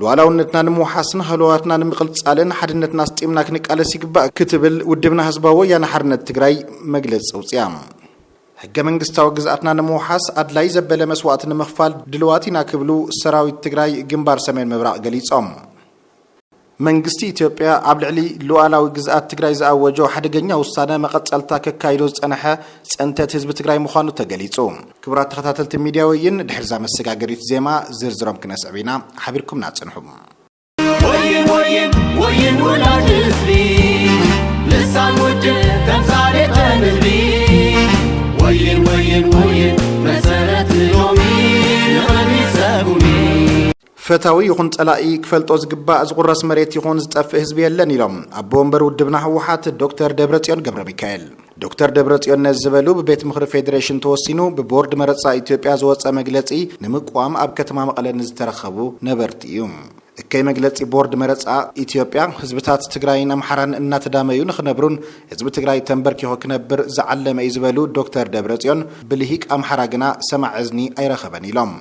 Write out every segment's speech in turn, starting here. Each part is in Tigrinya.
ሉኣላውነትና ንምውሓስን ሃለዋትና ንምቕልፃልን ሓድነትና ኣስጢምና ክንቃለስ ይግባእ ክትብል ውድብና ህዝባዊ ወያነ ሓርነት ትግራይ መግለፂ ኣውፂኣ። ህገ መንግስታዊ ግዝኣትና ንምውሓስ ኣድላይ ዘበለ መስዋእቲ ንምኽፋል ድልዋት ኢና ክብሉ ሰራዊት ትግራይ ግንባር ሰሜን ምብራቕ ገሊፆም። መንግስቲ ኢትዮጵያ ኣብ ልዕሊ ሉኣላዊ ግዝኣት ትግራይ ዝኣወጆ ሓደገኛ ውሳነ መቐፀልታ ከካይዶ ዝፀነሐ ፅንተት ህዝቢ ትግራይ ምዃኑ ተገሊፁ። ክቡራት ተኸታተልቲ ሚድያ ወይን ድሕሪዛ መሰጋገሪት ዜማ ዝርዝሮም ክነስዕብ ኢና ሓቢርኩምና ፅንሑ። ወይን ወይን ወይን ውላድ ህዝቢ ልሳን ውድብ ተምሳሌተ ንህቢ ወይን ወይን ወይን መሰረት ንሎሚ ንቕድሚት ሰጉሚ። ፈታዊ ይኹን ፀላኢ ክፈልጦ ዝግባእ ዝቑረስ መሬት ይኹን ዝጠፍእ ህዝቢ የለን ኢሎም ኣቦ ወንበር ውድብና ህወሓት ዶክተር ደብረፅዮን ገብረሚካኤል። ዶክተር ደብረፅዮን ነዚ ዝበሉ ብቤት ምኽሪ ፌዴሬሽን ተወሲኑ ብቦርድ መረፃ ኢትዮጵያ ዝወፀ መግለፂ ንምቅዋም ኣብ ከተማ መቐለ ንዝተረኸቡ ነበርቲ እዩ። እከይ መግለፂ ቦርድ መረፃ ኢትዮጵያ ህዝብታት ትግራይን ኣምሓራን እናተዳመዩ ንኽነብሩን ህዝቢ ትግራይ ተምበርኪኹ ክነብር ዝዓለመ እዩ ዝበሉ ዶክተር ደብረፅዮን ብልሂቅ ኣምሓራ ግና ሰማዒ እዝኒ ኣይረኸበን ኢሎም።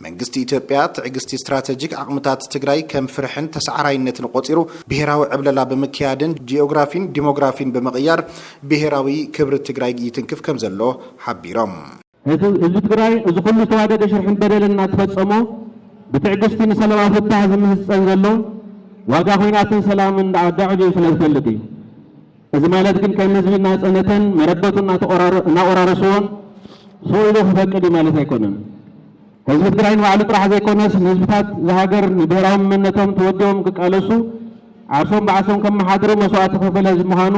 መንግስቲ ኢትዮጵያ ትዕግስቲ ስትራተጂክ ዓቕምታት ትግራይ ከም ፍርሕን ተሳዓራይነትን ቆፂሩ ብሄራዊ ዕብለላ ብምክያድን ጂኦግራፊን ዲሞግራፊን ብምቕያር ብሄራዊ ክብሪ ትግራይ ይትንክፍ ከምዘሎ ሓቢሮም። ህዝቢ ትግራይ እዚ ኩሉ ዝተዋደደ ሽርሕን በደልን እናተፈፀሞ ብትዕግስቲ ንሰለማዊ ፍታህ ዝምህፀን ዘሎ ዋጋ ኹናትን ሰላምን ኣዳዕብዩ ስለዝፈልጥ እዩ። እዚ ማለት ግን ከም ህዝቢ እናፀነተን መረበቱ እናቖራረስዎን ሱቕ ኢሉ ክፈቅድ እዩ ማለት ኣይኮነን። ህዝቢ ትግራይ ንባዕሉ ጥራሕ ዘይኮነስ ንህዝብታት እዛ ሃገር ንብሄራዊ መንነቶም ተወዲቦም ክቃለሱ ዓርሶም ብዓሶም ከመሓድሩ መስዋእቲ ዝኸፈለ ህዝቢ ምዃኑ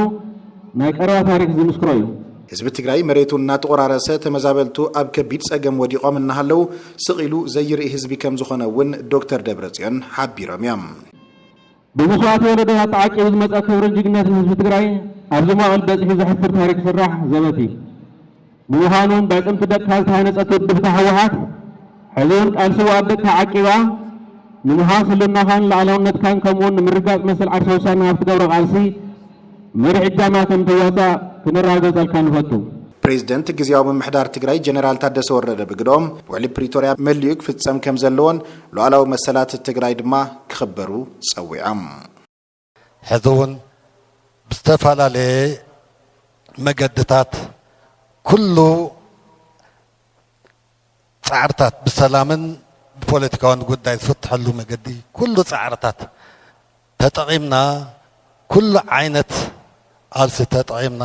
ናይ ቀረባ ታሪክ ዝምስክሮ እዩ። ህዝቢ ትግራይ መሬቱ እናተቖራረሰ ተመዛበልቱ ኣብ ከቢድ ፀገም ወዲቖም እናሃለው ስቕ ኢሉ ዘይርኢ ህዝቢ ከምዝኾነ እውን ዶክተር ደብረፅዮን ሓቢሮም እዮም። ብመስዋእቲ ወለዶታት ተዓቂቡ ዝመፀ ክብርን ጅግንነትን ህዝቢ ትግራይ ኣብዚ መዋእል በፂሑ ዘሕፍር ታሪክ ስራሕ ዘበት እዩ። ብምዃኑ በኣዕፅምቲ ደቅካ ዝተሃነፀት ውድብካ ህወሓት ሕዚ እውን ቃል ስውኣት ደቅካ ዓቂባ ንምሃስ ህልናኻን ላዕላውነትካን ከምኡ እውን ንምርጋፅ መሰል ዓርሰ ውሳነ ኣብ ትገብሮ ቃልሲ መሪሕ እጃማ ከም ትዋፃእ ክነረጋገፀልካ ንፈቱ። ፕሬዚደንት ግዝያዊ ምምሕዳር ትግራይ ጀነራል ታደሰ ወረደ ብግደኦም፣ ውዕሊ ፕሪቶርያ መሊኡ ክፍፀም ከም ዘለዎን፣ ሉኣላዊ መሰላት ትግራይ ድማ ክኽበሩ ፀዊዖም። ሕዚ ውን ብዝተፈላለየ መገድታት ኩሉ ፃዕርታት ብሰላምን ብፖለቲካውን ጉዳይ ዝፍትሐሉ መገዲ ኩሉ ፃዕርታት ተጠቒምና ኩሉ ዓይነት ቓልሲ ተጠቒምና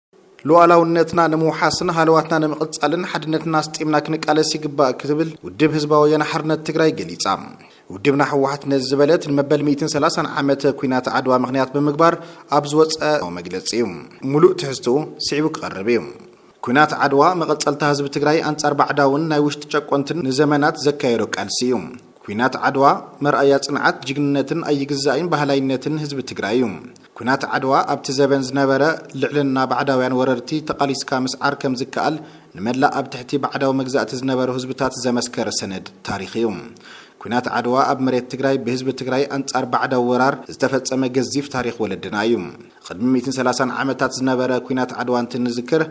ሉኣላውነትና ንምውሓስን ሃለዋትና ንምቕፃልን ሓድነትና ኣስጢምና ክንቃለስ ይግባእ ክትብል ውድብ ህዝባዊ ወያነ ሓርነት ትግራይ ገሊፃ። ውድብና ህወሓት ነዚ ዝበለት ንመበል ሚእትን ሰላሳን ዓመት ኲናት ዓድዋ ምኽንያት ብምግባር ኣብ ዝወፀ መግለፂ እዩ። ሙሉእ ትሕዝትኡ ስዒቡ ክቐርብ እዩ። ኲናት ዓድዋ መቐፀልታ ህዝቢ ትግራይ ኣንፃር ባዕዳውን ናይ ውሽጢ ጨቆንትን ንዘመናት ዘካየዶ ቃልሲ እዩ። ኲናት ዓድዋ መርኣያ ፅንዓት፣ ጅግንነትን ኣይግዛእይን በሃላይነትን ህዝቢ ትግራይ እዩ። ኲናት ዓድዋ ኣብቲ ዘበን ዝነበረ ልዕልና ባዕዳውያን ወረርቲ ተቓሊስካ ምስዓር ከም ዝከኣል ንመላእ ኣብ ትሕቲ ባዕዳዊ መግዛእቲ ዝነበሩ ህዝብታት ዘመስከረ ሰነድ ታሪኽ እዩ። ኲናት ዓድዋ ኣብ መሬት ትግራይ ብህዝቢ ትግራይ ኣንጻር ባዕዳዊ ወራር ዝተፈጸመ ገዚፍ ታሪኽ ወለድና እዩ። ቕድሚ ሚእትን ሰላሳን ዓመታት ዝነበረ ኲናት ዓድዋ እንትንዝክር፣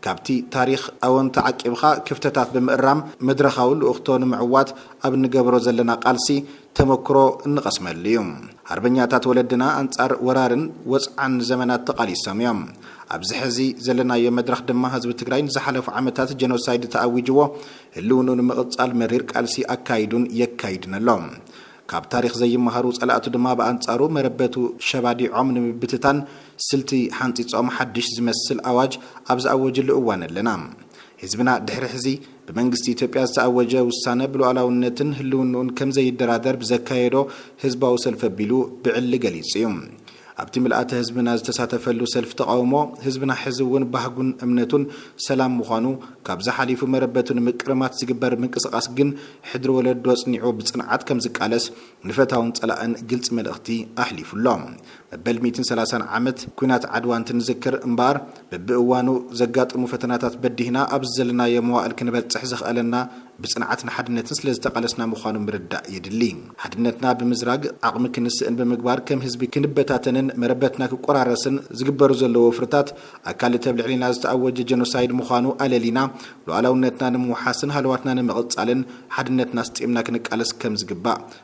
ካብቲ ታሪኽ ኣወንታ ዓቂብኻ ክፍተታት ብምእራም መድረኻዊ ልኡኽቶ ንምዕዋት ኣብ እንገብሮ ዘለና ቃልሲ ተመኩሮ እንቐስመሉ እዩ። ሃርበኛታት ወለድና ኣንጻር ወራርን ወጽዓን ንዘመናት ተቓሊሶም እዮም። ኣብዚ ሕዚ ዘለናዮ መድረኽ ድማ ህዝቢ ትግራይ ንዝሓለፉ ዓመታት ጀኖሳይድ ተኣዊጅዎ ህልውንኡ ንምቕጻል መሪር ቃልሲ ኣካይዱን የካይድን ኣሎ። ካብ ታሪኽ ዘይመሃሩ ጸላእቱ ድማ ብኣንጻሩ መረበቱ ሸባዲዖም ንምብትታን ስልቲ ሓንጺጾም ሓድሽ ዝመስል ኣዋጅ ኣብ ዝኣወጅሉ እዋን ኣለና። ህዝብና ድሕሪ ሕዚ ብመንግስቲ ኢትዮጵያ ዝተኣወጀ ውሳነ ብሉኣላውነትን ህልውንኡን ከምዘይደራደር ብዘካየዶ ህዝባዊ ሰልፊ ኣቢሉ ብዕሊ ገሊጹ እዩ። ኣብቲ ምልኣተ ህዝብና ዝተሳተፈሉ ሰልፊ ተቓውሞ፣ ህዝብና ሕዚ እውን ባህጉን እምነቱን ሰላም ምዃኑ፣ ካብዚ ሓሊፉ መረበቱ ንምቅርማት ዝግበር ምንቅስቓስ ግን ሕድሪ ወለዶ ኣጽኒዑ ብጽንዓት ከም ዝቃለስ ንፈታውን ጸላእን ግልጺ መልእኽቲ ኣሕሊፉ ኣሎ። መበል ሚእትን ሰላሳን ዓመት ኲናት ዓድዋ እንትንዝክር እምበኣር፣ በብእዋኑ ዘጋጥሙ ፈተናታት በዲህና ኣብዚ ዘለናዮ መዋእል ክንበጽሕ ዘኽኣለና ብጽንዓት ንሓድነትን ስለ ዝተቓለስና ምዃኑ ምርዳእ የድሊ። ሓድነትና ብምዝራግ ዓቕሚ ክንስእን ብምግባር ከም ህዝቢ ክንበታተንን መረበትና ክቆራረስን ዝግበሩ ዘለዉ ወፍርታት ኣካል እቲ ኣብ ልዕሌና ዝተኣወጀ ጀኖሳይድ ምዃኑ ኣለሊና ሉኣላውነትና ንምውሓስን ሃለዋትና ንምቕጻልን ሓድነትና ኣስጢምና ክንቃለስ ከም ዝግባእ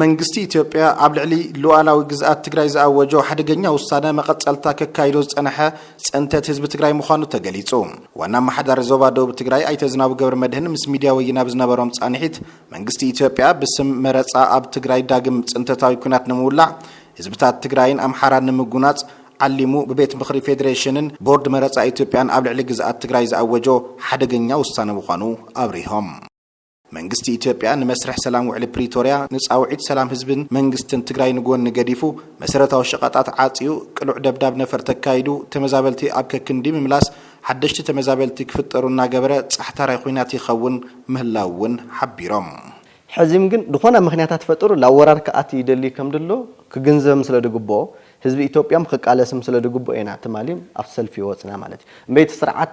መንግስቲ ኢትዮጵያ ኣብ ልዕሊ ሉኣላዊ ግዝኣት ትግራይ ዝኣወጆ ሓደገኛ ውሳነ መቐፀልታ ከካይዶ ዝፀነሐ ፅንተት ህዝቢ ትግራይ ምዃኑ ተገሊፁ። ዋና ኣመሓዳሪ ዞባ ደቡብ ትግራይ ኣይተ ዝናቡ ገብረመድህን ምስ ሚድያ ወይን ኣብ ዝነበሮም ፃንሒት መንግስቲ ኢትዮጵያ ብስም መረፃ ኣብ ትግራይ ዳግም ፅንተታዊ ኲናት ንምውላዕ ህዝብታት ትግራይን ኣምሓራን ንምጉናፅ ዓሊሙ ብቤት ምኽሪ ፌዴሬሽንን ቦርድ መረፃ ኢትዮጵያን ኣብ ልዕሊ ግዝኣት ትግራይ ዝኣወጆ ሓደገኛ ውሳነ ምዃኑ ኣብሪሆም። መንግስቲ ኢትዮጵያ ንመስርሕ ሰላም ውዕሊ ፕሪቶርያ ንፃውዒት ሰላም ህዝብን መንግስትን ትግራይ ንጎኒ ገዲፉ መሰረታዊ ሸቐጣት ዓፅዩ ቅሉዕ ደብዳብ ነፈር ተካይዱ ተመዛበልቲ ኣብ ከክንዲ ምምላስ ሓደሽቲ ተመዛበልቲ ክፍጠሩ እናገበረ ፃሕታራይ ኹናት ይኸውን ምህላው እውን ሓቢሮም። ሕዚም ግን ድኾነ ምኽንያታት ፈጥሩ ላብ ወራር ክኣቲ ይደልይ ከምድሎ ክግንዘብም ስለድግቦኦ ህዝቢ ኢትዮጵያም ኽቃለስም ስለድግቦኦ ኢና ትማሊም ኣብቲ ሰልፊ ወፅና ማለት እዩ። እምበይ እቲ ስርዓት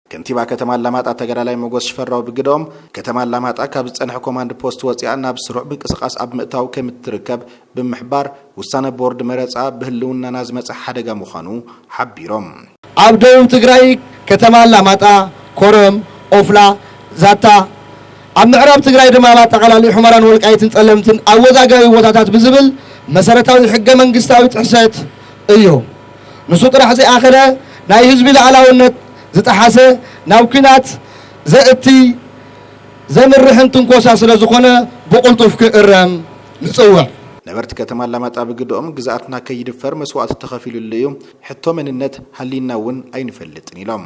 ከንቲባ ከተማ ኣላማጣ ተጋዳላይ ሞጎስ ሽፈራው ብግደኦም፣ ከተማ ኣላማጣ ካብ ዝጸንሐ ኮማንድ ፖስት ወጺኣ ናብ ስሩዕ ምንቅስቓስ ኣብ ምእታው ከምትርከብ ብምሕባር፣ ውሳነ ቦርድ መረጻ ብህልውናና ዝመጸ ሓደጋ ምዃኑ ሓቢሮም። ኣብ ደቡብ ትግራይ ከተማ ኣላማጣ፣ ኮረም፣ ኦፍላ፣ ዛታ፣ ኣብ ምዕራብ ትግራይ ድማ ኣብ ኣጠቓላሊ ሑመራን ወልቃይትን ፀለምትን ኣወዛጋቢ ቦታታት ብዝብል መሰረታዊ ሕገ መንግስታዊ ጥሕሰት እዩ። ንሱ ጥራሕ ዘይኣኸለ ናይ ህዝቢ ልኣላውነት ዝጠሓሰ ናብ ኩናት ዘእቲ ዘምርሕን ትንኮሳ ስለ ዝኾነ ብቕልጡፍ ክእረም ንፅውዕ። ነበርቲ ከተማ ኣላማጣ ብግደኦም፣ ግዝኣትና ከይድፈር መስዋእቲ ተኸፊሉሉ እዩ፣ ሕቶ መንነት ሃልዩና እውን ኣይንፈልጥን ኢሎም።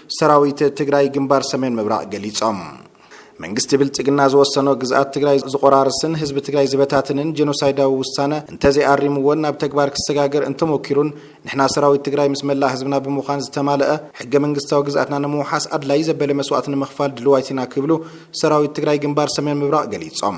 ሰራዊት ትግራይ ግንባር ሰሜን ምብራቕ ገሊፆም። መንግስቲ ብልፅግና ዝወሰኖ ግዝኣት ትግራይ ዝቖራርስን ህዝቢ ትግራይ ዝበታትንን ጀኖሳይዳዊ ውሳነ እንተዘይኣሪምዎን ናብ ተግባር ክሰጋገር እንተሞኪሩን ንሕና ሰራዊት ትግራይ ምስ መላእ ህዝብና ብምዃን ዝተማለኣ ሕገ መንግስታዊ ግዝኣትና ንምውሓስ ኣድላዪ ዘበለ መስዋእቲ ንምኽፋል ድልዋይት ኢና ክብሉ ሰራዊት ትግራይ ግንባር ሰሜን ምብራቕ ገሊፆም።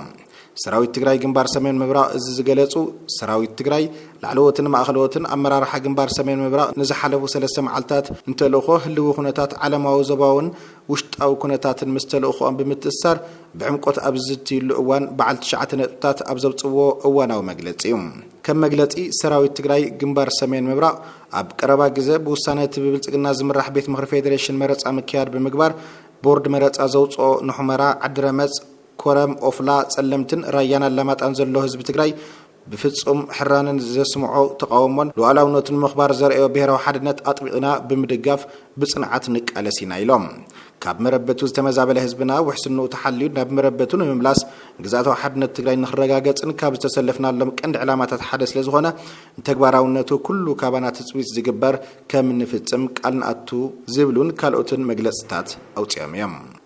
ሰራዊት ትግራይ ግንባር ሰሜን ምብራቕ እዚ ዝገለፁ ሰራዊት ትግራይ ላዕለዎትን ማእኸለዎትን ኣመራርሓ ግንባር ሰሜን ምብራቕ ንዝሓለፉ ሰለስተ መዓልትታት ንተልእኾ ህልዊ ኩነታት ዓለማዊ ዞባውን ውሽጣዊ ኩነታትን ምስ ተልእኾኦም ብምትእስሳር ብዕምቆት ኣብ ዝዝትይሉ እዋን በዓል ትሽዓተ ነጥብታት ኣብ ዘውፅዎ እዋናዊ መግለፂ እዩ። ከም መግለፂ ሰራዊት ትግራይ ግንባር ሰሜን ምብራቕ ኣብ ቀረባ ግዘ ብውሳነ እቲ ብብልፅግና ዝምራሕ ቤት ምኽሪ ፌዴሬሽን መረፃ ምክያድ ብምግባር ቦርድ መረፃ ዘውፅኦ ንሑመራ፣ ዓዲረመፅ፣ ኮረም፣ ኦፍላ፣ ፀለምትን ራያን ኣላማጣን ዘሎ ህዝቢ ትግራይ ብፍፁም ሕራነን ዘስምዖ ተቓውሞን ሉኣላውነቱ ንምኽባር ዘርኣዮ ብሄራዊ ሓድነት ኣጥቢቕና ብምድጋፍ ብፅንዓት ንቃለስ ኢና ኢሎም። ካብ መረበቱ ዝተመዛበለ ህዝብና ውሕስንኡ ተሓልዩ ናብ መረበቱ ንምምላስ ግዝኣታዊ ሓድነት ትግራይ ንኽረጋገፅን ካብ ዝተሰለፍናሎም ቀንዲ ዕላማታት ሓደ ስለዝኾነ ንተግባራውነቱ ኩሉ ካባና ትፅቢት ዝግበር ከምንፍፅም ቃል ንኣቱ ዝብሉን ካልኦትን መግለፅታት ኣውፂኦም እዮም።